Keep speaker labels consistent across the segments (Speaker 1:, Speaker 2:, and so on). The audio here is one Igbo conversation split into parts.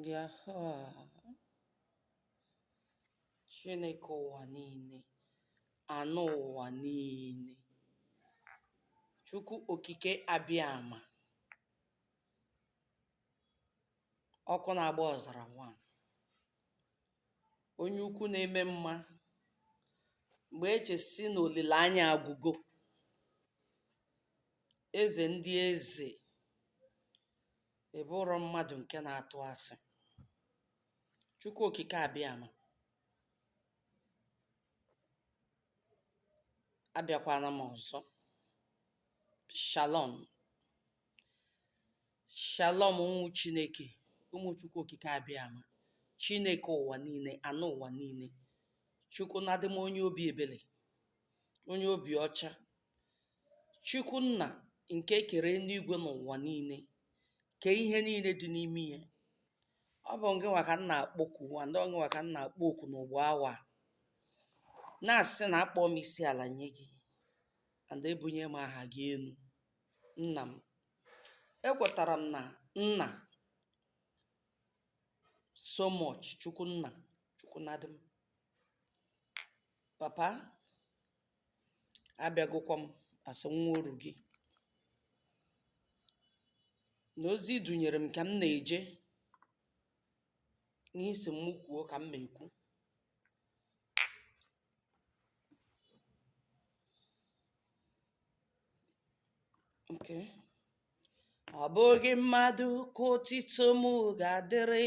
Speaker 1: Ya ha. Chineke ụwa niile, anụ ụwa niile, Chukwu okike Abịama, ọkụ na-agba ọzara nwa, onye ukwu na-eme mma, mgbe e chesị na olileanya agwụgo, Eze ndị eze ị bụrọ mmadụ nke na-atụ asị. Chukwu okike abịama abịakwana m ọzọ. Shalom. Shalom ụmụ Chineke, ụmụ Chukwu okike abịama. Chineke ụwa niile, anụ ụwa niile. Chukwu na-adị m onye obi ebere, onye obi ọcha. Chukwu Nna nke kere enuigwe na ụwa niile, kee ihe niile dị n'ime ya. Ọ bụ ngịnwa ka m na-akpọku and ọ ngịnwa ka m na-akpọku n'ugbu awa a, na-asị na akpọ m isi ala nye gị and ebunye m aha gị enu, Nna m. Ekwetara m na Nna so much, Chukwu Nna, Chukwu Nadị m. Papa, abịagokwa m as nwa oru gị na ozi ị dunyere m ka m na-eje ihe ị sị mụ kwuo ka m na-ekwu okay ọ bụghị mmadụ ka otito m ga-adịrị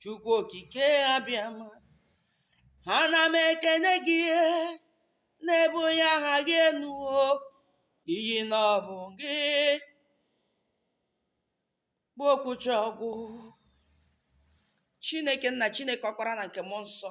Speaker 1: chukwu okike abịama ana m ekene gị na-ebunye aha gị enu o ihi na ọ bụ gị bụ okwuchaa ọ gwụ chineke nna chineke ọkpara na nke mmụọ nsọ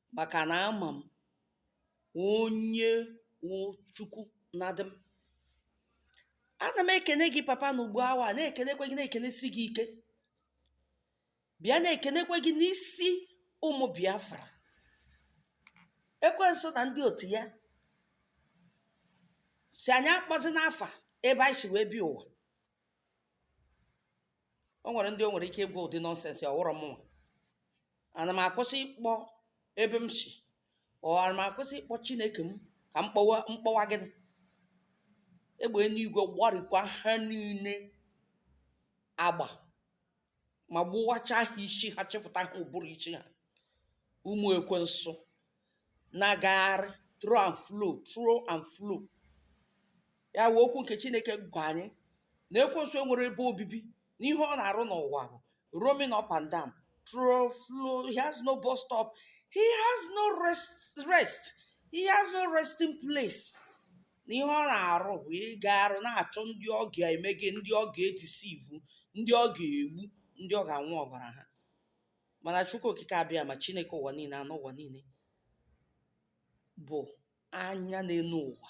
Speaker 1: maka na ama m onye wụ Chukwu na dị m. Ana m ekene gị papa na ugbu awa a, na-ekenekwa gị na-ekenesi gị ike. Bịa na-ekenekwa gị n'isi ụmụ Biafra. Ekwensu na ndị otu ya sị anyị akpọzina afa ebe anyị si wee bịa ụwa. o nwere ndị o nwere ike ịgwa ụdị nonsense ọ wụrọ mụnwa ana m akwụsị ịkpọ ebe m si or ana m akwụsị ịkpọ chineke m ka m kpọwa gịnị egbe enuigwe gbarikwa ha niile agba ma gbuwacha ha isi ha chịpụta ha ụbụrụ isi ha ụmụ ekwensu na-agagharị to and fro to and fro ya wee okwu nke chineke gwa anyị na ekwensu enwerọ ebe obibi na ihe ọ na-arụ n'ụwa bụ roaming up and down to and fro he has no bus stop he has no rest he has no resting place na ihe ọ na-arụ bụ ịgagharị na-achọ ndị ọ ga-eme gịnị ndị ọ ga-edisivu ndị ọ ga-egbu ndị ọ ga-aṅụ ọbara ha mana chukwu okike abiama chineke ụwa niile anụ ụwa niile bụ anya na-ene ụwa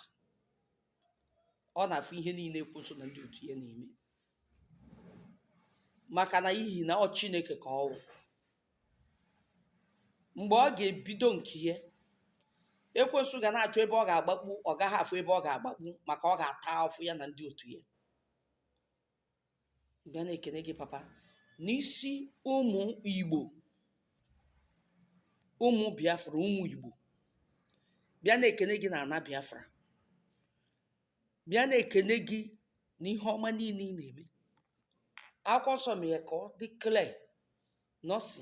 Speaker 1: ọ na-afụ ihe niile ekwensu na ndị otu ya na-eme maka na ihi na ọ chineke ka ọ wụ mgbe ọ ga-ebido nke ya ekwensu ga na-achọ ebe ọ ga-agbakpu ọ gaghị afụ ebe ọ ga-agbakpu maka ọ ga-ata afụfụ ya na ndị otu ya bịa na-ekene gị papa n'isi ụmụ igbo ụmụ biafra ụmụ igbo bịa na-ekene gị na ana biafra bịa na-ekene gị na ihe ọma niile ị na-eme akwụkwọ nsọ mere ka ọ dị clear na ọ sị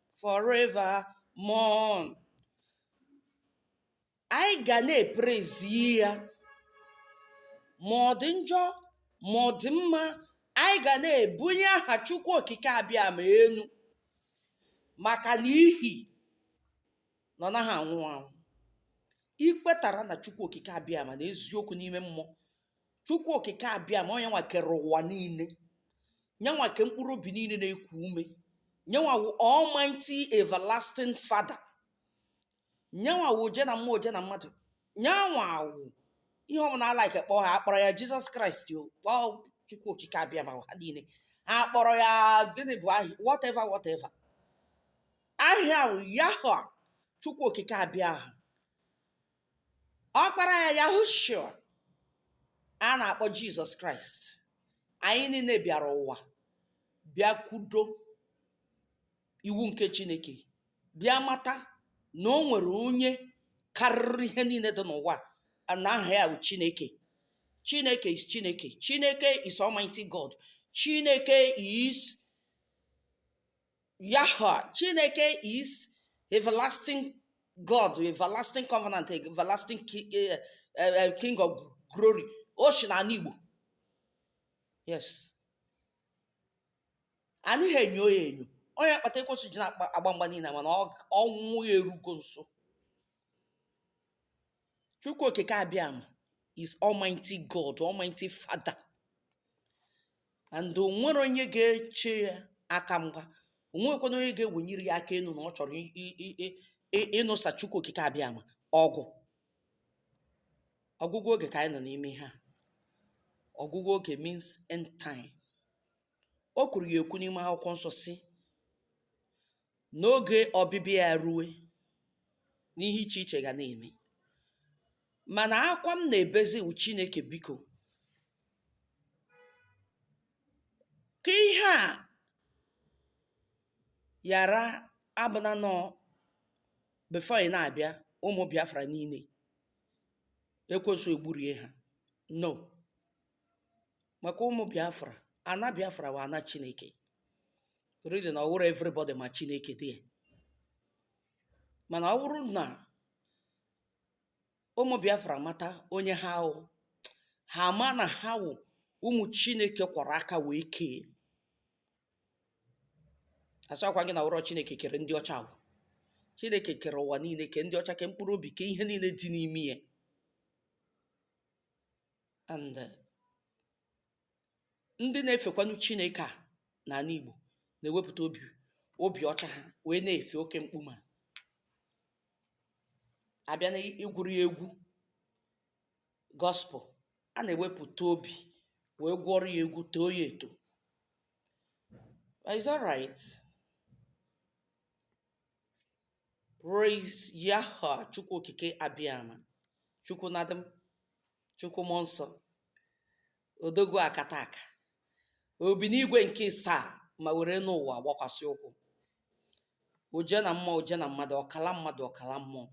Speaker 1: forevermore. Anyị ga na-eprezi ya ma ọ dị njọ ma ọ dị mma anyị ga na-ebunye aha Chukwu Okike Abiama elu maka na ihi na ọ naghị anwụ anwụ i kwetara na Chukwu Okike Abiama n'eziokwu n'ime mmụọ chukwu okike abiama ọ nyanwa kere ụwa niile nyanwa ke mkpụrụ obi niile na-eku ume nyanwa wụ almighty everlasting father nyanwa wụ oje na mmụọ oje na mmadụ nyanwa wụ ihe ọbụla a like kpọọ ya a kpọrọ ya jizọs kraịst o kpọọ chukwu okike abiama aha niile ha kpọrọ ya gịnị bụ aha ya whatever whatever aha ya wụ yahweh chukwu okike abiama ọkpara ya yahushua a na-akpọ jizọs kraịst anyị niile bịara ụwa bịa kwudo iwu nke chineke bịa mata na o nwere onye karịrị ihe niile dị n'ụwa a na aha ya bụ chineke chineke is chineke chineke is almighty god chineke is Yahweh, Chineke is everlasting God, everlasting covenant, everlasting ki- eh, eh, eh, King of glory. O si n'ala Igbo. Yes. A naghị enyo ya enyo. Ọ nya kpata ekwensu ji na-agba mgba niile mana ọ g- ọnwụ ya erugo nso. Chukwu okike Abiama is Almighty God, Almighty Father. and o nwere onye ga-eche ya aka mgba o nwekwanụ onye ga-ewenyere ya aka enu na ọ chọrọ i- i- i- i- i- ịnụsa chukwu okike abịama ọgụ ọgwụgwụ oge ka anyị nọ n'ime ihe a ọgwụgwụ oge means end time o kwuru ya ekwu n'ime akwụkwọ nsọ sị N'oge ọbịbịa ya rue, na ihe iche iche ga na-eme. Mana akwa m na-ebezi wụ Chineke biko. Ka ihe a ghara abụ na nọọ before ị na-abịa ụmụ Biafra niile ekwensu egburie ha. No. maka ụmụ biafra ana biafra wụ ana chineke really na ọ wụrọ everybody ma chineke dị mana ọ wụrụ na ụmụ biafra mata onye ha wụ ha ama na ha wụ ụmụ chineke kwọrọ aka wee kee asịkwa m gị na ọ wụrọ chineke kere ndị ọcha ọ wụ chineke kere ụwa niile ke ndị ọcha ke mkpụrụ obi ke ihe niile dị n'ime ya and eh, ndị na-efekwanụ Chineke a n'ana Igbo na-ewepụta obi obi ọcha ha wee na-efe oke mkpuma a bịa na ịgụrụ ya egwu gospel a na-ewepụta obi wee gụọrọ ya egwu too ya eto It's all right. Praise Yahweh, Chukwu Okike Abịama, Chukwu Nnadị m, Chukwu Mmụọ Nsọ, Odogwu Akataka, o bi n'igwe nke isaa ma were enu ụwa gbakwasị ụkwụ. Oje na mmụọ, oje na mmadụ, ọkala mmadụ, ọkala mmụọ.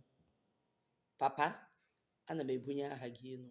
Speaker 1: Papa, ana m ebunye aha gị enu.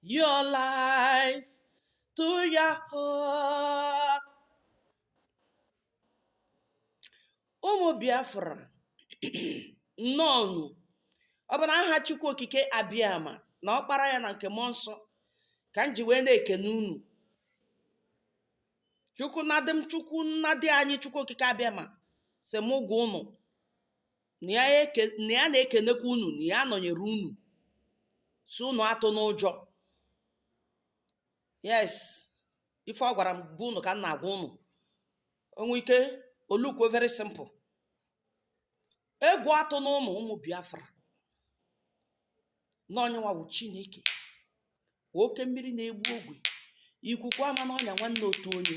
Speaker 1: your life to Yahweh. ụmụ biafra nnọọnụ ọ bụ n'aha chukwu okike abịama na ọkpara ya na nke mmụọ nsọ ka m ji wee na-ekene unu chukwu nnadị m chukwu nnadị anyị chukwu okike abịama sị mụ gwa unu na ya eke na ya na-ekenekwa unu na ya nọnyere unu sị unu atụna ụjọ yes ife ọ gwara m bụ unu ka m na-agwa unu o nwe ike olukwo very simple egwu atụna unu ụmụ biafra na onye nwa wụ chineke oke mmiri na-ebu ogwe ikuku ama n'ọnya nwanne otu onye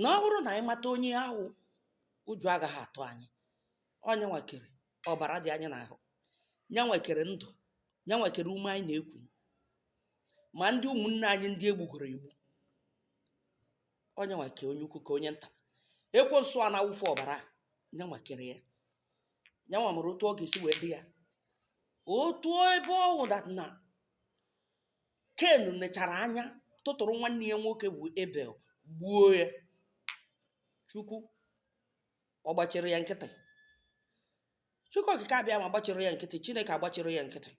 Speaker 1: na ọ bụrụ na anyị mata onye ahụ ụjọ agaghị atụ anyị ọ nya nwa kere ọbara dị anyị n'ahụ nya nwa kere ndụ nya nwa kere ume anyị na-eku ma ndị ụmụnne anyị ndị egbugoro egbu ọ nya nwa kere onye ukwu kee onye nta ekwensu a na-awụfu ọbara nya nwa kere ya nya nwa maara otu ọ ga-esi wee dị ya otu ebe ọ wụ that na ken nechara anya tụtụrụ nwanne ya nwoke bụ ebel gbuo ya chukwu ọ gbachiri ya nkịtị chukwu okike abịama gbachiri ya nkịtị chineke agbachiri ya nkịtị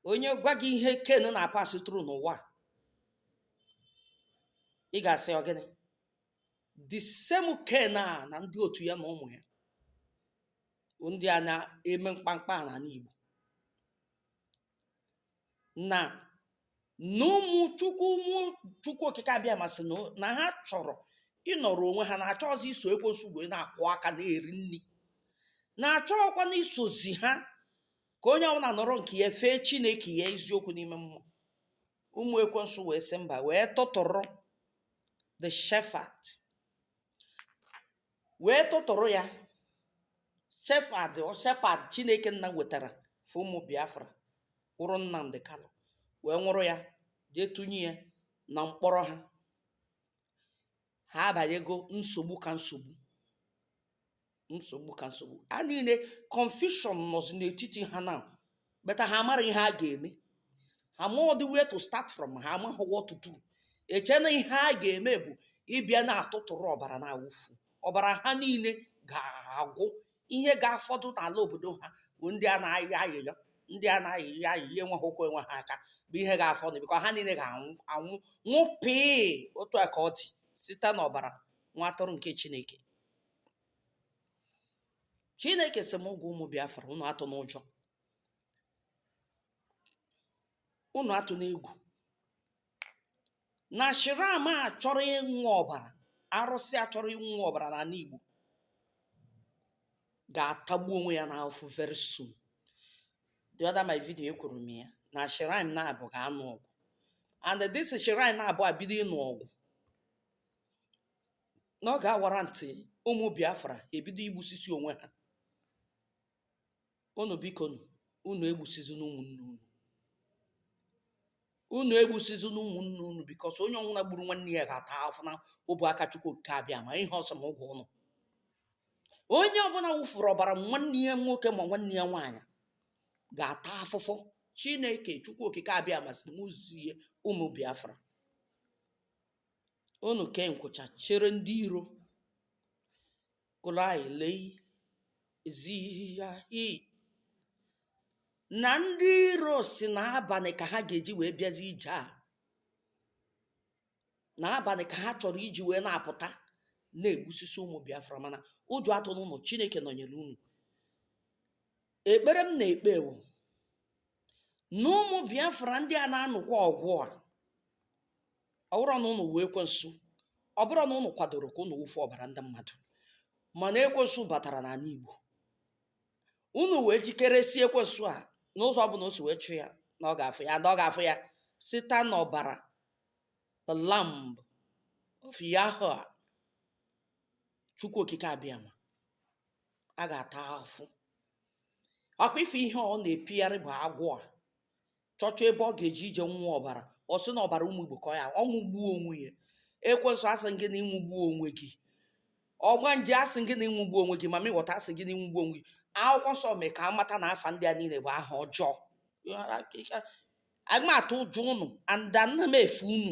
Speaker 1: onye gwa gị ihe ken na-apass through n'ụwa a, ị ga-asị ọ gịnị the same ken a na ndị otu ya na ụmụ ya bụ ndị a na-eme mkpamkpa a n'ala igbo na na ụmụ chukwu ụmụ chukwu okike abịama sị na na ha chọrọ ịnọrọ onwe ha na achọrọzi iso ekwensu wee na-akwọ aka na-eri nri na achọọkwanụ isozi ha ka onye ọbụla nọrọ nke ya fee chineke ya eziokwu n'ime mmụọ ụmụ ekwensu wee sị mba wee tụtụrụ the shepherd wee tụtụrụ ya shepherd shepherd chineke nna wetara for ụmụ biafra kwụrụ nnamdị kalụ wee nwụrụ ya jee tụnye ya na mkpọrọ ha ha abanyego nsogbu ka nsogbu nsogbu ka nsogbu a niile confusion nọzi n'etiti ha na but ha amarọ ihe ha ga-eme ha amarọdị where to start from ha amaghị what to do eche na ihe a ga-eme bụ ịbịa na-atụtụrụ ọbara na-awụfu ọbara ha niile ga-agwụ ihe ga-afọdụ n'ala obodo ha bụ ndị a na-ayọ ayịyọ ndị a na-ayọ ayịyọ enweghị ụkwụ enweghị aka bụ ihe ga-afọdụ because ha niile ga-anwụ nwụọ pịị otu a ka ọ dị site n'ọbara nwa atụrụ nke Chineke chineke sị m gwa ụmụ biafra unu atụna ụjọ unu atụna egwu na shrine a chọrọ ịṅụ ọbara arụsị a chọrọ ịṅụ ọbara n'ala igbo ga-atagbu onwe ya n'afụfụ very soon the other my video ekwuru m ya na shrine naabọ ga-anụ ọgụ and this shrine naabọ ebido ịnụ ọgụ na ọ ga-awara ntị ụmụ Biafra ebido igbusisi onwe ha unu biko nụ, unu egbusizina ụmụnne unu unu egbusizina ụmụnne unu because onye ọwụna gburu nwanne ya ga-ata afụfụ n'ọbụ aka Chukwu okike abịama ihe ọ sị m gwa unu onye ọbụla wụfuru ọbara nwanne ya nwoke ma nwanne ya nwaanyị ga-ata afụfụ Chineke Chukwu okike abịama sị m zie ụmụ Biafra Unu kee nkwụcha chere ndị iro, Kụlai lei zihihi na ndị iro si na abani ka ha ga-eji wee bịazi ije a na abani ka ha chọrọ iji wee na-apụta na-egbusisi ụmụ Biafra mana ụjọ atụna unu Chineke nọnyere unu ekpere m na-ekpe wụ na ụmụ Biafra ndị a na-anụkwa ọgụ a ọ bụrụ na unu wụ ekwensu ọ bụrụ na unu kwadoro ka unu wụfu ọbara ndị mmadụ mana ekwensu batara n'ala Igbo unu wee jikere sị ekwensu a n'ụzọ ọbụla o si wee chọọ ya na ọ ga-afụ ya na ọ ga-afụ ya site n'ọbara the lamb of Yahweh Chukwu Okike Abịama a ga-ata afụ ọkwa ife ihe ọ na-epigharị bụ agwọ a chọchọ ebe ọ ga-eji ije nwụọ ọbara ọ sị na ọbara ụmụ igbo ka ọ ya ọ nwụgbuo onwe ya ekwensu asị m gị na ị nwụgbuo onwe gị ọgbanje asị gị na ị nwụgbuo onwe gị mamị wọta asị gị na ị nwụgbuo onwe gị akwụkwọ nsọ mee ka a mata na afa ndị a niile bụ aha ọjọọ ama m atụ ụjọ unu and ana m efe unu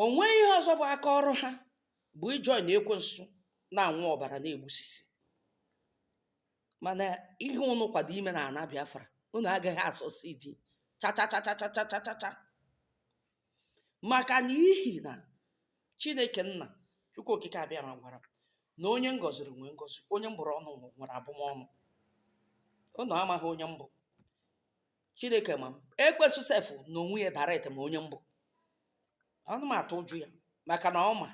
Speaker 1: O nweghị ihe ọzọ bụ aka ọrụ ha bụ ijoin ekwensu na-anwụ ọbara na-egbusisi. Mana ihe unu kwado ime n'ana Biafra, unu agaghị asucceed cha cha cha cha cha cha cha cha cha. Maka na ihi na Chineke Nna Chukwu Okike Abịama gwara m na onye m gọziri nwee ngọzi, onye m bụrụ ọnụ nwere abụmọnụ. Unu amaghị onye m bụ. chineke ma m ekwensu sef na onwe ya direct ma onye m bụ ana m atụ ụjọ ya maka na ọ ma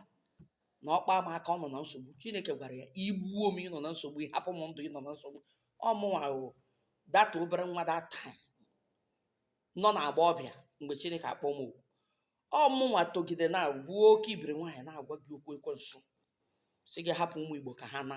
Speaker 1: na ọ kpa m aka ọ nọ na nsogbu chineke gwara ya i gbuo m ị nọ na nsogbu ị hapụ m ndụ ị nọ na nsogbu ọ mụnwa wụ that obere nwa that nọ na agba ọbịa mgbe chineke akpọ m oku ọ mụnwa togide na bụ oke ibiri nwaanyị na-agwa gị okwu ekwensu sị gị hapụ ụmụ igbo ka ha na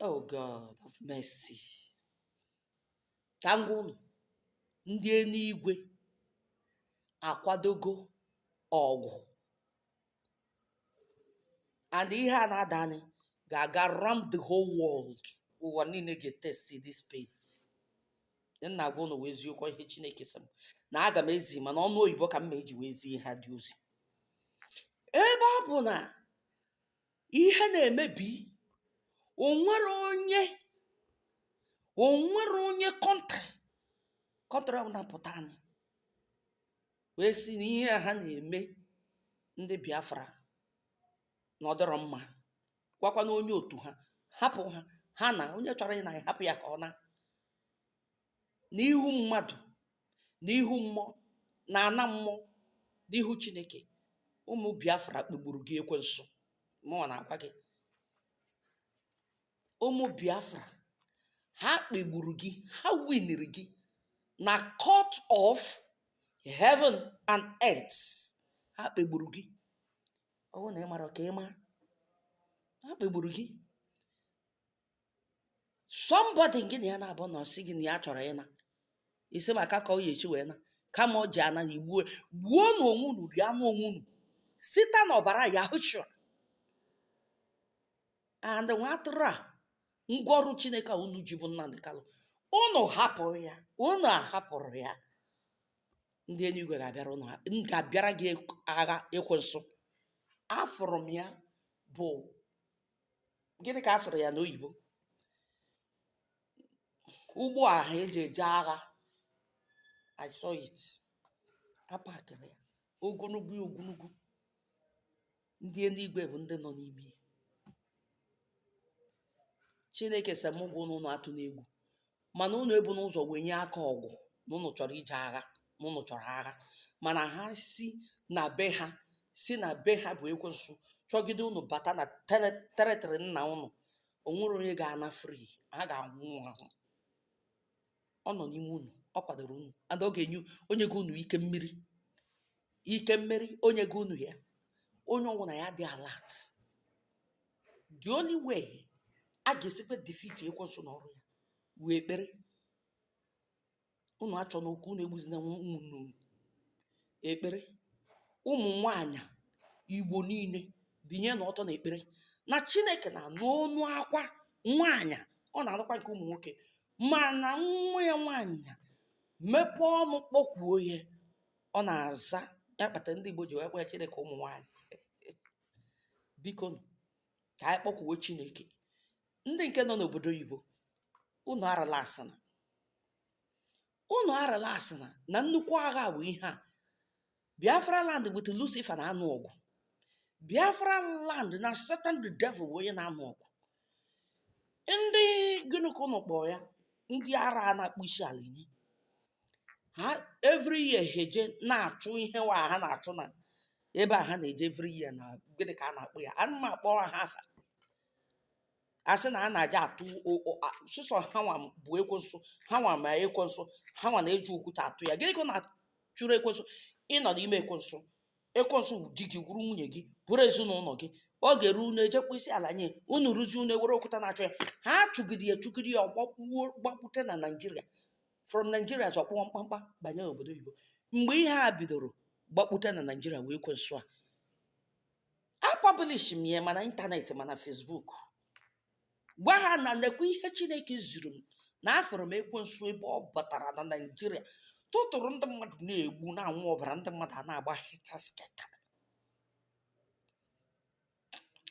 Speaker 1: Oh God of mercy. Ka m gwa unu, ndị enuigwe akwadogo ọgụ. And ihe a na-adanị ga-aga round the whole world. Ụwa niile ga-etesti this pain. M na-agwa unu wụ eziokwu ihe Chineke sị m na aga m ezi mana ọnụ oyibo ka m ma-eji wee zie ha the ozi. Ebe ọ bụ na ihe na-emebi o nwere onye o nwere onye kọntrị kọntrị ọbụla pụtanụ wee sị na ihe a ha na-eme ndị Biafra na ọ dịrọ mma gwakwa na onye otu ha hapụ ha ha naa onye chọrọ ịna hapụ ya ka ọ naa n'ihu mmadụ n'ihu mmụọ na ana mmụọ n'ihu chineke ụmụ biafra kpegburu gị ekwensu mụnwa na-agwa gị ụmụ biafra ha kpegburu gị ha winiri gị na court of heaven and earth ha kpegburu gị ọ wụ na ị marọ ka ị ma ha kpegburu gị somebody gị na ya na-abụ na ọ sị gị na ya chọrọ ịna isi maka ka ọ ya esi wee naa kama ọ ji ana igbuo gbuo na onwe unu rie anụ onwe unu site na ọbara yahushua and nwa atụrụ a ngwa ọrụ chineke a unu ji bụ nnamdi kanu unu hapụrụ ya unu ahapụrọ ya ndị eluigwe ga-abịara unu ga-abịara gị agha ekwensu afụrụ m ya bụ gịnị ka a sụrụ ya n'oyibo ụgbọ ahụ eji eje agha I saw it a pakịrị ya ogologo ya ogologo ndị eluigwe bụ ndị nọ n'ime ya chineke sị mụ gwa unu unu atụna egwu mana unu ebuna ụzọ wee nye aka ọgụ na unu chọrọ ije agha na unu chọrọ agha mana ha si na be ha si na be ha bụ ekwensu chọgide unu bata na tere- territory nna unu o nwerọ onye ga-ana free ha ga-anwụ ahụ ọ nọ n'ime unu ọ kwadoro unu and ọ ga-enye o nyego unu ike mmeri ike mmeri o nyego unu ya onye ọwụna ya dị alert the only way a ga-esikwa defeat ekwensu na ọrụ ya wụ ekpere unu achọna okwu unu egbuzina ụmụnne unu ekpere ụmụ nwanyị igbo niile binye na ọtọ na ekpere na chineke na-anụ onu akwa nwanyị ọ na-anụkwa nke ụmụ nwoke mana nwa ya nwanyị mepee ọnụ kpọkwuo ya ọ na-aza ya kpata ndị igbo ji wee kpọọ ya chineke ụmụ nwanyị biko ka anyị kpọkwuo chineke ndị nke nọ n'obodo oyibo unu arelaxịna unu arelaxịna na nnukwu agha bụ ihe a biafra land with lucifer na-anụ ọgụ biafra land na satan the devil bụ onye na-anụ ọgụ ndị gịnị ka unu kpọrọ ya ndị ara a na-akpọ isi ala nye ha every year ha eje na-achụ ihe nwa ha na-achụ na ebe a ha na-eje every year na gịnị ka a na-akpọ ya ana m akpọrọ ha afa a sị na a na-aja atụ o- o- a- sọsọ ha nwa bụ ekwensu ha nwa ma ekwensu ha nwa na-eji okwute atụ ya gịnị ka ọ na-achụrụ ekwensu ị nọ n'ime ekwensu ekwensu wụ di gị wụrụ nwunye gị wụrụ ezinụlọ gị ọ ga-eru unu eje kpọ isi ala nye unu rụzie unu ewere okwute na-achụ ya ha chụgide ya chụgide ya ọ gbakpuo gbakpute na naijiria from naijiria chọkpụọ mkpamkpa banye obodo oyibo mgbe ihe a bidoro gbakpute na naijiria wee ekwensu a apọblish m ya ma na ịntanetị ma na fesbuk gwa ha na nekwa ihe chineke ziri m na afụrụ m ekwensu ebe ọ batara na naijiria tụtụrụ ndị mmadụ na-egbu na-anwụ ọbara ndị mmadụ a na-agba helter-skelter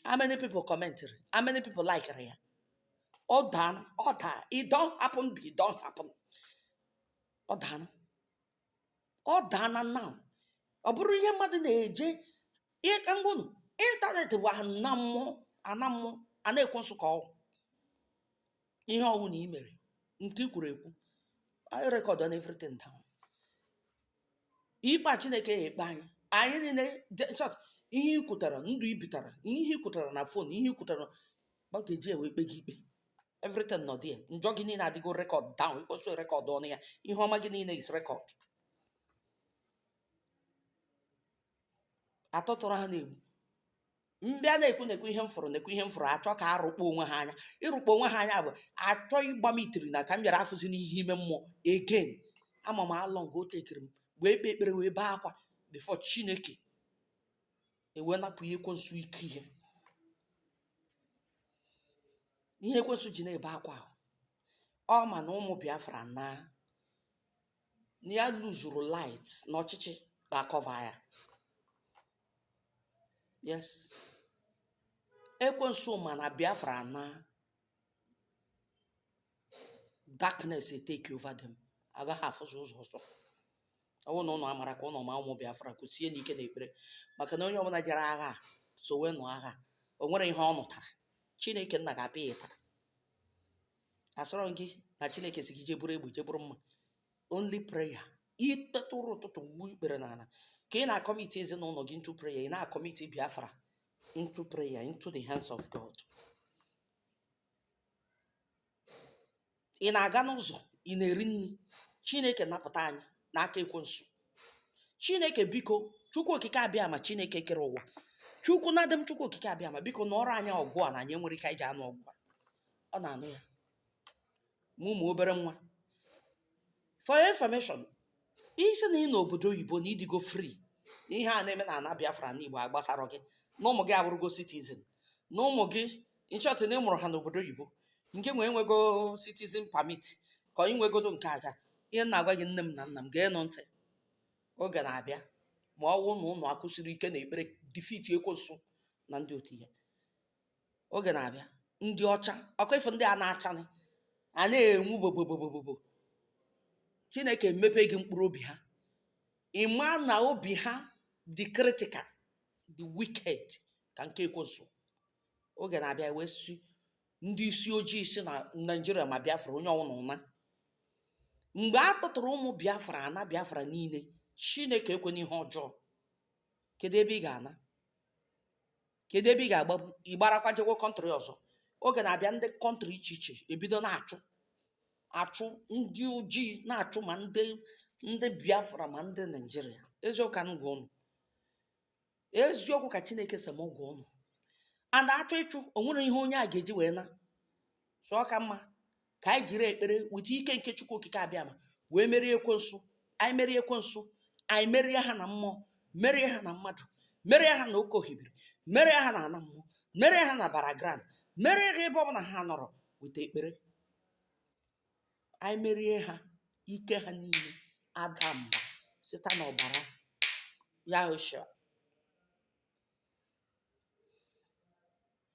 Speaker 1: how many people commentiri how many people likere ya ọ daa ọ daa e don happen be e don happen ọ daa ọ daa na now ọ bụrụ ihe mmadụ na-eje ihe ka m gwa unu ịntanetị bụ ana mmụọ ana mmụọ ana ekwensu ka ọ wụ ihe ọwụna i mere nke i kwuru ekwu anyị rekọd na everything down ikpe a chineke ya ekpe anyị anyị niile ncha ihe i kwutara ndụ i bitara ihe i kwutara na fon ihe i kwutara ọ ga-eji wee kpee gị ikpe everything nọ there njọ gị niile adịgo rekọd down ịkwesị rekọd ọnụ ya ihe ọma gị niile is rekọd a tụtụrụ ha na-egbu m bịa na-ekwu na-ekwu ihe m fụrụ na-ekwu ihe m fụrụ a chọ ka a rụkpọ onwe ha anya ịrụkpọ onwe ha anya bụ a chọ ịgba m itiri na ka m ghara afụzi n'ihe ime mmụọ again ama m how long o tekiri m wee kpee ekpere wee bee akwa before chineke e wee napụ ihe ekwensu ike ihe ihe ekwensu ji na-ebe akwa ahụ ọ ma na ụmụ biafra na na ya luzuru light na ọchịchị ga-akọva ya yes ekwensu ma na biafra na darkness take over them agaghị afụzi ụzọ ọzọ ọ bụrụ na ụnụ amara ka ụnụ ma ụmụ Biafra kwụsie n'ike n'ekpere maka na onye ọbụla jere agha so wee nụ agha o nwere ihe ọ nụtara Chineke nna ga-apịa ya ụtarị asịrọ m gị na Chineke sị gị jee buru egbe jee buru mma only prayer i teta ụra ụtụtụ gbuo ikpere n'ala ka ị na-akọmiti ezinụlọ gị into prayer ị na-akọmiti Biafra into prayer, into the hands of God. Ị na-aga n'ụzọ, ị na-eri nri, Chineke napụta anyị n'aka ekwensu. Chineke biko, Chukwu okike abịama Chineke kere ụwa. Chukwu na-adị m Chukwu okike abịama biko nụọrọ anyị ọgụ a na anyị enwerọ ike anyị ji anụ ọgụ a. Ọ na-anụ ya. ma ụmụ obere nwa for your information ị sị na ị nọ obodo oyibo na ị dịgo free na ihe a na-eme na ana biafra na igbo agbasarọ gị na ụmụ gị abụrụgo citizen na ụmụ gị in short na ị mụrụ ha n'obodo oyibo nke nwee nwego citizen permit ka i nwegodu nke aga ihe m na-agwa gị nne m na nna m geenụ ntị oge na-abịa ma ọ wụ na ụnụ akwụsiri ike na ekpere defeat ekwensu na ndị otu ya Oge na-abịa, ndị ọcha, ọ kwa ị fụ ndị a na-achanị, a na-enwu bobobobobobo. Chineke emepe gị mkpụrụ obi ha. Ị maa na obi ha dị critical, dị wicked ka nke ekwensu. Oge na-abịa e wee sị ndị isi ojii si na Naịjirịa ma Biafra onye ọwụna ụna. Mgbe a tụtụrụ ụmụ Biafra ana Biafra niile, Chineke ekwena ihe ọjọọ. kedu ebe ị ga-ana kedu ebe ị ga-agbapụ ị gbarakwa jekwa country ọzọ oge na-abịa ndị country iche iche ebido na-achụ achụ ndị ojii na-achụ ma ndị ndị biafra ma ndị naijiria eziokwu ka m gwa ụnụ eziokwu ka chineke sị m gwa ụnụ and a chọọ ịchụ o nwere ihe onye a ga-eji wee naa so ọ ka mma ka anyị jiri ekpere weta ike nke chukwu okike abiama wee merie ekwensu anyị merie ekwensu anyị merie ha na mmụọ merie ha na mmadụ merie ha na oke ohimiri merie ha na ana mmụọ merie ha na burial ground merie ha ebe ọbụla ha nọrọ weta ekpere anyị merie ha ike ha niile ada mba site n'ọbara yahoshua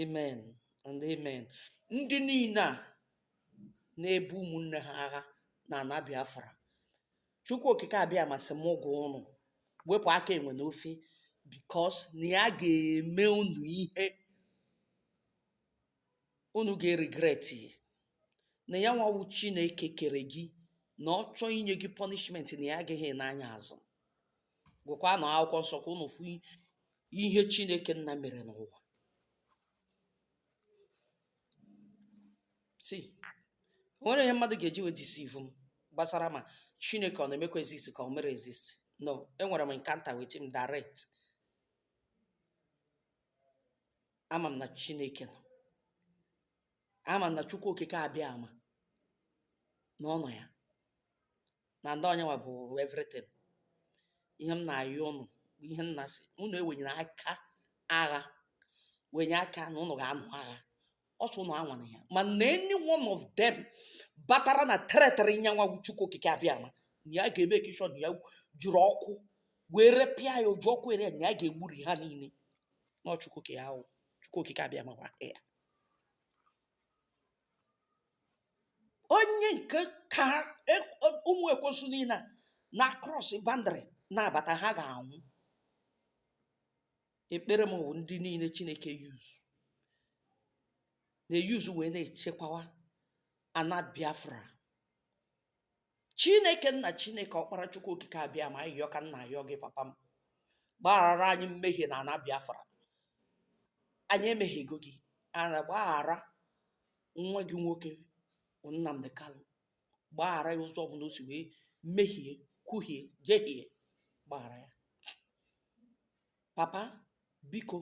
Speaker 1: amen and amen ndị niile a na-ebu ụmụnne ha agha na ana biafra chukwu okike abiama sị m gwa ụnụ wepụ aka enwe n'ofe because na ya ga-eme unu ihe unu ga-regret na ya nwa wụ chineke kere gị na ọ chọọ inye gị punishment na ya agaghị ene anya azụ gụkwanụ akwụkwọ nsọ ka unu fụ ihe chineke nna mere n'ụwa see o nwere ihe mmadụ ga-eji wee deceive m gbasara ma chineke ọ na-emekwa exist ka ọ mere exist no enwere m encounter with him direct ama m na chineke nọ ama m na chukwu okike abiama na ọ nọ ya na ndị ọnyanwa bụ everything ihe m na-ayọ ụnụ ihe m na-asị ụnụ ewenyena aka agha wenye aka na ụnụ ga-anụ agha ọzọ ụnụ anwana ya mana any one of them batara na territory nyanwa chukwu okike abịama na ya ga-emake sure na ya jiri ọkụ wee repịa ya o ji ọkụ ere ya na ya ga-egburi ha niile na ọ chukwu okike ahụ chukwu okike abịama gwa ya onye nke ka e- o- ụmụ ekwensu niile a na cross boundary na-abata ha ga-anwụ ekpere m bụ ndị niile chineke use na-eyuzu wee na-echekwawa ana biafra chineke nna chineke ọkpara chukwu okike abịama ayịyọ ka m na-ayọ gị papa m gbaghara anyị mmehie na ana biafra anyị emehiego gị ana gbaghara nwa gị nwoke bụ nnamdi kanu gbaghara ya ụzọ ọbụla o si wee mehie kwuhie jehie gbaghara ya Papa, biko,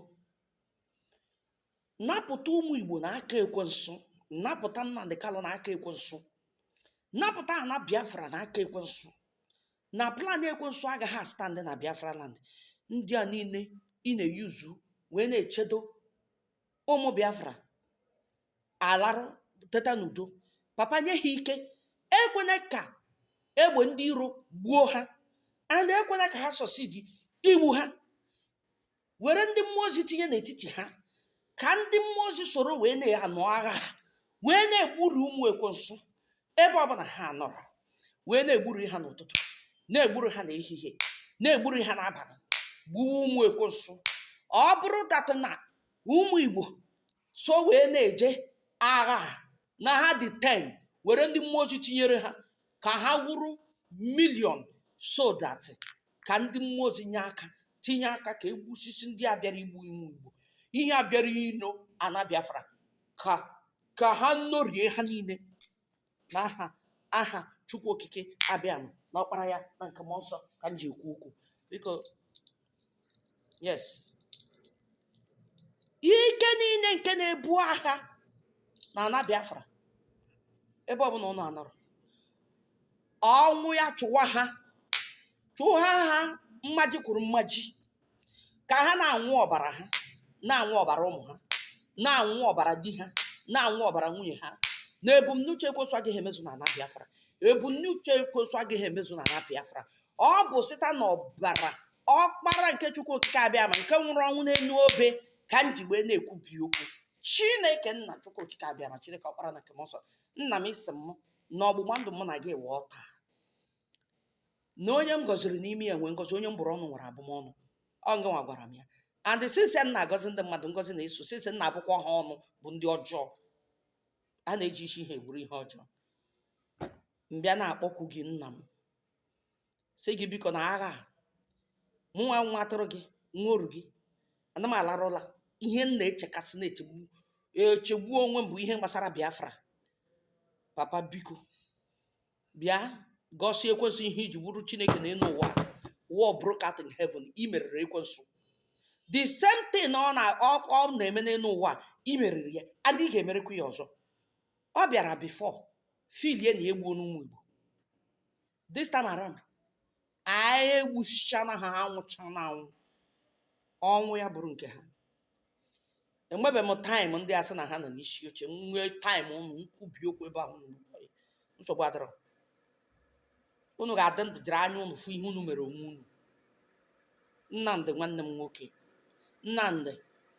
Speaker 1: napụta ụmụ Igbo na aka ekwensu, napụta Nnamdi Kanu na aka ekwensu, napụta ana Biafra na aka ekwensu. Na plan ekwensu agaghị astand na Biafra land. Ndị a niile ị na-eyuzu wee na-echedo ụmụ Biafra alarụ teta n'udo papa nye ha ike ekwena ka egbe ndị iro gbuo ha and ekwena ka ha succeed igbu ha were ndị mmụọ ozi tinye n'etiti ha ka ndị mmụọ ozi soro wee na-anụ agha ha wee na-egburu ụmụ ekwensu ebe ọbụla ha nọrọ wee na-egburu ha n'ụtụtụ na-egburu ha n'ehihie na-egburu ha n'abalị gbuo ụmụ ekwensu ọ bụrụ that na ụmụ igbo so wee na-eje agha a na ha dị 10 were ndị mmụọ ozi tinyere ha ka ha wụrụ million so that ka ndị mmụọ ozi nye aka tinye aka ka e gbusisi ndị a bịara igbu ụmụ igbo ihe a bịara ino ana biafra ka ka ha norie ha niile n'aha aha Chukwu Okike Abịama na ọkpara ya na nke mmụọ nsọ ka m ji ekwu okwu biko yes ike niile nke na-ebu agha na ana Biafra ebe ọbụla ụnụ anọrọ ọnwụ ya chụwa ha chụwa ha mmaji kwuru mmaji ka ha na-aṅụ ọbara ha na-aṅụ ọbara ụmụ ha na-aṅụ ọbara di ha na-aṅụ ọbara nwunye ha na ebumnuche ekwensu agaghị emezu na ana biafra ebumnuche ekwensu agaghị emezu na ana biafra ọ bụ site na ọbara ọkpara nke chukwu okike abịama nke nwụrụ ọnwụ n'elu obe ka m ji wee na-ekwubi okwu chineke nna chukwu okike abịama chineke ọkpara na nke mmụọ nsọ nna m ị sị m na ọgbụgba ndụ mụ na gị wụ otu a na onye m gọziri n'ime ya nwee ngọzi onye m bụrụ ọnụ nwere abụmọnụ ọ ngịnwa gwara m ya and since m na-agọzi ndị mmadụ ngọzi na-eso since m na-abụkwa ha ọnụ bụ ndị ọjọọ a na-eji isi ha eburu ihe ọjọọ m bịa na-akpọkwu gị nna m sị gị biko na agha a, mụ nwa nwa atụrụ gị nwa oru gị ana m alarụla ihe m na-echekasị na-echegbu echegbu onwe m bụ ihe gbasara biafra papa biko bịa gosi ekwensu ihe i ji wụrụ chineke na elu ụwa war broke out in heaven i meriri ekwensu the same thing ọ na ọ ọ na-eme n'elu ụwa i meriri ya and ị ga-emerikwa ya ọzọ ọ bịara before feelie na egbuona ụmụ igbo this time around anyị egbusichana ha ha nwụchana anwụ ọnwụ ya bụrụ nke ha enwebe m time ndị a sị na ha nọ n'isi oche m nwee time unu m kwubie okwu ebe ahụ unu nọ. nsogbu adịrọ unu ga-adị ndụ jiri anya unu fụ ihe unu mere onwe unu nnamdi nwanne m nwoke nnamdi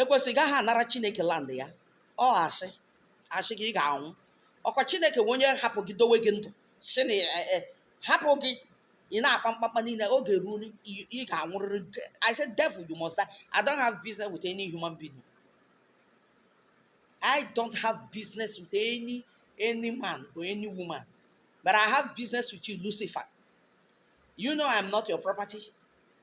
Speaker 1: ekwensu ị gaghị anara chineke land ya ọ asị asị gị ị ga-anwụ ọkwa chineke nwe onye hapụ gị dowe gị ndụ sị na e- e- hapụ gị ị na-akpa mkpakpa niile oge ruo n- ị ị ga-anwụrịrị De- i said devil you must die i don't have business with any human being i don't have business with any any man or any woman but i have business with you lucifer you know i'm not your property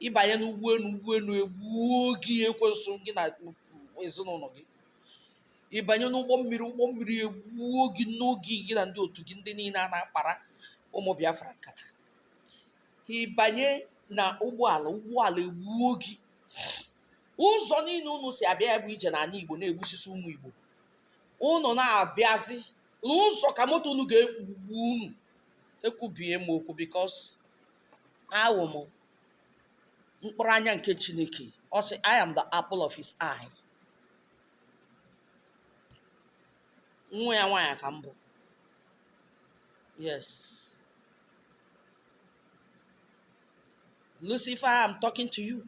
Speaker 1: ị banye n'ụgbọelu ụgbọelu egbuo gị ekwensu gị na ezinụlọ gị ị banye n'ụgbọ mmiri ụgbọ mmiri egbuo gị ngị gị na ndị otu gị ndị niile a na-akpara ụmụ biafra nkata ị banye na ụgbọala ụgbọala egbuo gị ụzọ niile unu si abịa ya bụ ije n'ala igbo na-egbusisi ụmụ igbo unu na-abịazi n'ụzọ ka moto unu ga-ekpugbu unu ekwubie m okwu because awụ m mkpụrụ anya nke chineke ọ sị i am the apple of his eye nwa ya nwaanyị ka m bụ yes lucifer i am talking to you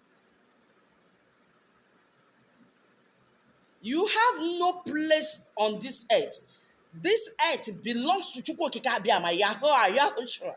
Speaker 1: you have no place on this earth this earth belongs to chukwu okike abịama yahweh yahweh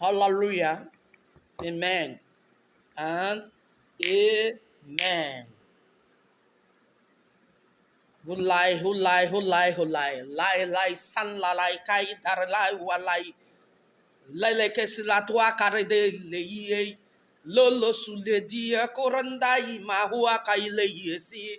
Speaker 1: Hallelujah. Amen. And amen. Hulai, hulai, hulai, hulai. Lai, lai, san, la, lai, kai, dar, lai, wa, lai. Lele, ke, si, la, tua, kare, de, le, ye. Lolo, su, le, di, ya, korandai, ma, hua, kai, le, ye, si.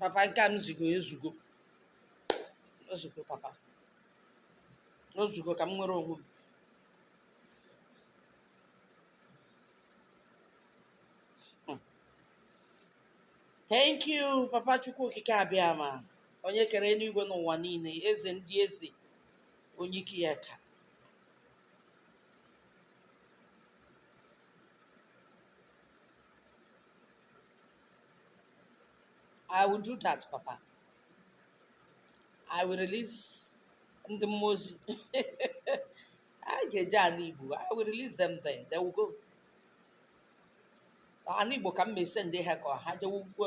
Speaker 1: papa nke a ezugo ezugo o zugo papa o zugo ka m nwere onwe m hmm. thank you papa chukwu okike abịama onye kere eluigwe na ụwa niile eze ndị eze onye ike ya ka I will do that, Papa. I will release ndị mmụọ ozi ga-eje ala Igbo. I will release them there. They will go. Ala Igbo ka m na-esend ha ka ha jewe ugwu.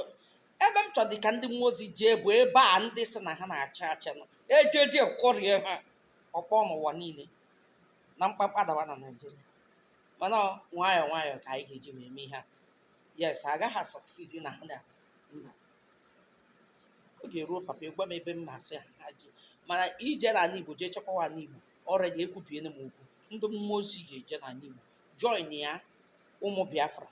Speaker 1: Ebe m chọdị ka ndị mmụọ ozi jee bụ ebe a ndị sị na ha na-achị achị nọ. Ka ha jee kụrie ha. ọkpọ n'ụwa niile na mkpamkpa dawa na naijiria mana nwayọọ nwayọọ ka anyị ga-eji wee mee ihe a yes agaghị asucceed na ha na mba oge ruo papa ị gwa m ebe m na-asị ha ha jee mana ije n'ala igbo jee chekwawa ala igbo already ekwubiene m okwu ndị mmụọ ozi ga-eje n'ala igbo joinia ụmụ biafra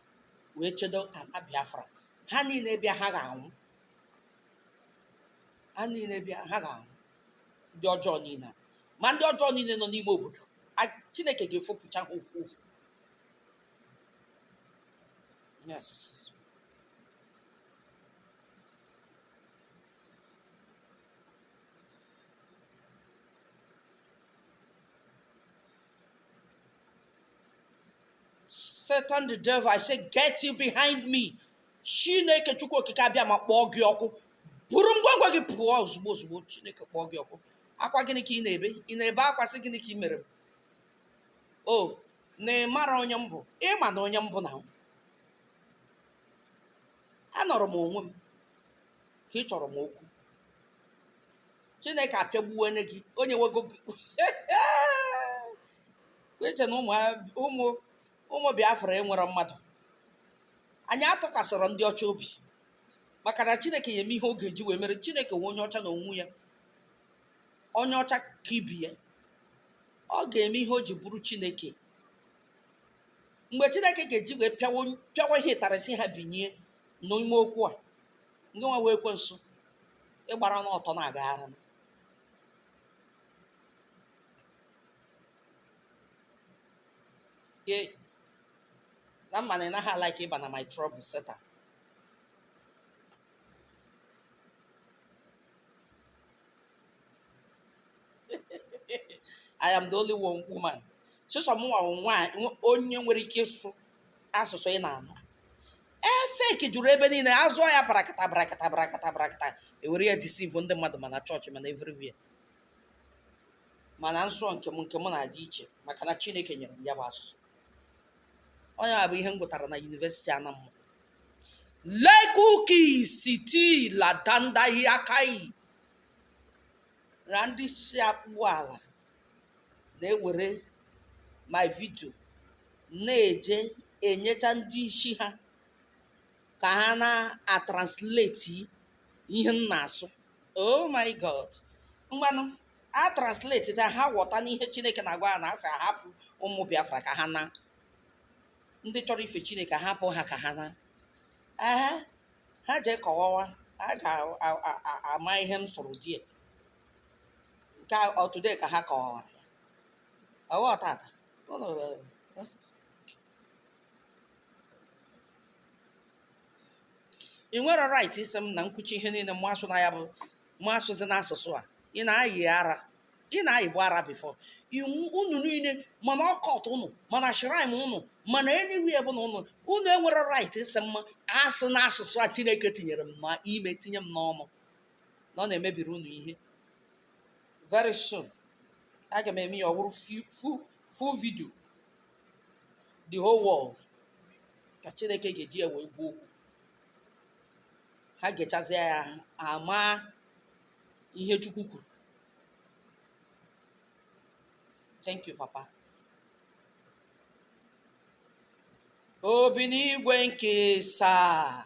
Speaker 1: wee chedo ala biafra ha niile bịa ha ga-anwụ ha niile bịa ha ga-anwụ ndị ọjọọ niile ma ndị ọjọọ niile nọ n'ime obodo a chineke ga-efopụcha ha ofu ofu yes Satan the devil, I say, get you behind me. chineke chukwu okike abịama kpọọ gị ọkụ buru ngwongwo gị pụọ ozugbo ozugbo chineke kpọọ gị ọkụ akwa gịnị ka ị na-ebe ị na-ebe akwa sị gịnị ka ị mere m ọ na ị mara onye m bụ ị ma na onye m bụ na m anọrọ m onwe m ka ị chọrọ m okwu chineke apịagbuwene gị onye nwego gị ị che na ụmụ ụmụ ụmụ biafra enwerọ mmadụ anyị atụkwasịrọ ndị ọcha obi maka na chineke ya-eme ihe ọ ga-eji wee mere chineke nwe onye ọcha na onwe ya onye ọcha ka ibi ya ọ ga-eme ihe o ji bụrụ chineke mgbe chineke ga-eji wee pịawa onye- pịawa ihe ịtarịsị ha binye n'ime okwu a ngị nwa wee ekwensu ị gbara n'ọtọ na-agagharị Yay. na m ma na ị naghị alike ịba na my trouble Satan I am the only one woman. Sọsọ m nwa nwaanyị onye nwere ike ịsụ asụsụ ị na-anụ. Fake juru ebe niile a sụọ ya barakata barakata barakata barakata e were ya deceive ndị mmadụ ma na chọọchị ma na everywhere. mana m sụọ nke m nke m na-adị iche maka na chineke nyere m ya bụ asụsụ onye a bụ ihe m gụtara na yunivesiti anamụ lekuki siti ladandahi akai na ndị si akpụ ala na-ewere my video na-eje enyecha ndị isi ha ka ha na-atranslate ihe m na-asụ oh my god mgbanụ a translate ta ha ghọta na ihe chineke na-agwa ha na a sị a hapụ ụmụ biafra ka ha naa ndị chọrọ ife chineke a hapụ ha ka ha naa ehe ha jee kọwawa a ga-ama ihe m sụrụ die nke today ka ha kọwawara ya ụwa tata ị nwere right ịsị m na nkwuchi ihe niile mụ asụna ya bụ mụ asụzina asụsụ a ị na-ayị ara ị na-ayịbu ara before unu niile ma na occult unu ma na shrine unu ma na anywhere bụna unu unu enwere right ịsị mụ asụna asụsụ a chineke tinyere m ma ime tinye m n'ọnụ na ọ na-emebiri unu ihe very soon aga m eme ya ọ wụrụ fu- fu- full video the whole world ka chineke ga-eji ya wee gwa okwu ha gechazịa ya ha maa ihe chukwu kwuru thank you papa o bi n'igwe nke asaa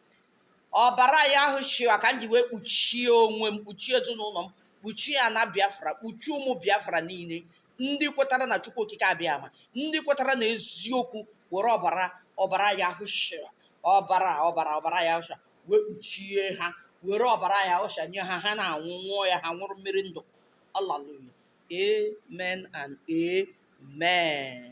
Speaker 1: ọbara yahushua ka m ji wee kpuchie onwe m kpuchie ezinụlọ m kpuchie ana biafra kpuchie ụmụ biafra niile ndị kwetara na chukwu okike abịama ndị kwetara na eziokwu were ọbara ọbara yahushua ọbara ọbara ọbara yahushua wee kpuchie ha were ọbara yahushua nye ha ha na-aṅụ ṅụọ ya ha ṅụrụ mmiri ndụ hallelujah amen and amen